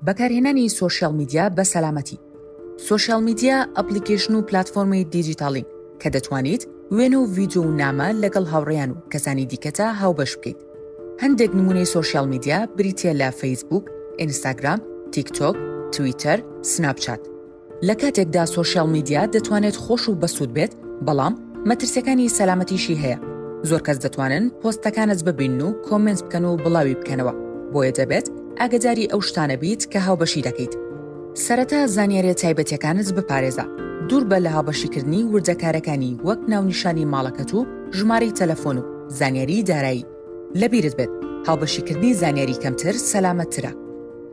بەکارهێنانی سۆشیاڵ میدیا بە سەلامەتی. سۆشیاڵ میدیا ئەپڵیکەیشن و پلاتفۆرمی دیجیتاڵین کە دەتوانیت وێنە و ڤیدیۆ و نامە لەگەڵ هاوڕێیان و کەسانی دیکەتا هاوبەش بکەیت. هەندێک نموونەی سۆشیاڵ میدیا بریتییە لە فەیسبووک، ئینستاگرام، تیکتۆک، تویتەر، سناپچات. لە کاتێکدا سۆشیال میدیا دەتوانێت خۆش و بەسوود بێت، بەڵام مەترسیەکانی سەلامەتیشی هەیە. زۆر کەس دەتوانن پۆستەکانت ببینن و کۆمێنت بکەن و بڵاوی بکەنەوە، بۆیە دەبێت ئاگەداری ئەو شتانە بیت کە هاوبەشی دەکەیت. سەرەتا زانیاریە تایبەتیەکانت بپارێزە، دووربە لە هاوبەشیکردنی وردەکارەکانی وەک ناونیشانی ماڵەکەت و ژمارەی تەلەفۆن و زانیاری دارایی. لەبیرت بێت هاوبەشیکردنی زانیاری کەمتر سەلامەتترە.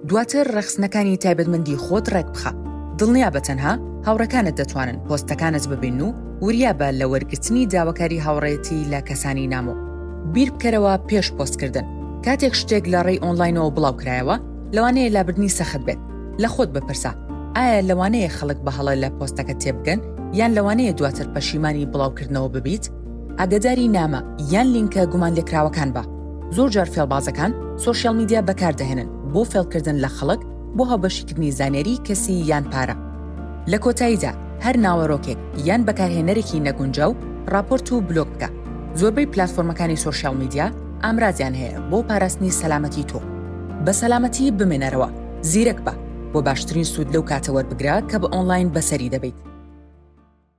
دواتر ڕەخسنەکانی تایبەتمەندی خۆت ڕێکبخە. دڵنیابە تەنها هاوڕێکانت دەتوانن پۆستەکانت ببینن و وریابە لە وەرگرتنی داواکاری هاوڕێیەتی لە کەسانی نامۆ. بیربکەرەوە پێش پۆستکردن، کاتێک شتێک لە ڕێی ئۆنلاینەوە بڵاوکرایەوە، لەوانەیە لابردنی سەخت بێت. لە خۆت بپرسە، ئایا لەوانەیە خەڵک بە هەڵە لە پۆستەکەت تێبگەن یان لەوانەیە دواتر پەشیمانی بڵاوکردنەوە ببیت؟ ئاگەداری نامە یان لینکە گومانلێکراوەکان بە. زۆر جار فێڵبازەکان سۆشیاڵ میدیا بەکاردەهێنن بۆ فێڵکردن لە خەڵک بۆ هاوبەشیکردنی زانیاریی کەسی یان پارە. لە کۆتاییدا هەر ناوەرۆکێک یان بەکارهێنەرێکی نەگونجاو ڕاپۆرت و بلۆک بکە. زۆربەی پلاتفۆرمەکانی سۆشیاڵ میدیا ئامرازیان هەیە بۆ پاراستنی سەلامەتی تۆ. بە سەلامەتی بمێنەرەوە، زیرەک بە، بۆ باشترین سوود لەو کاتە وەربگرە کە بە ئۆنلاین بەسەری دەبەیت.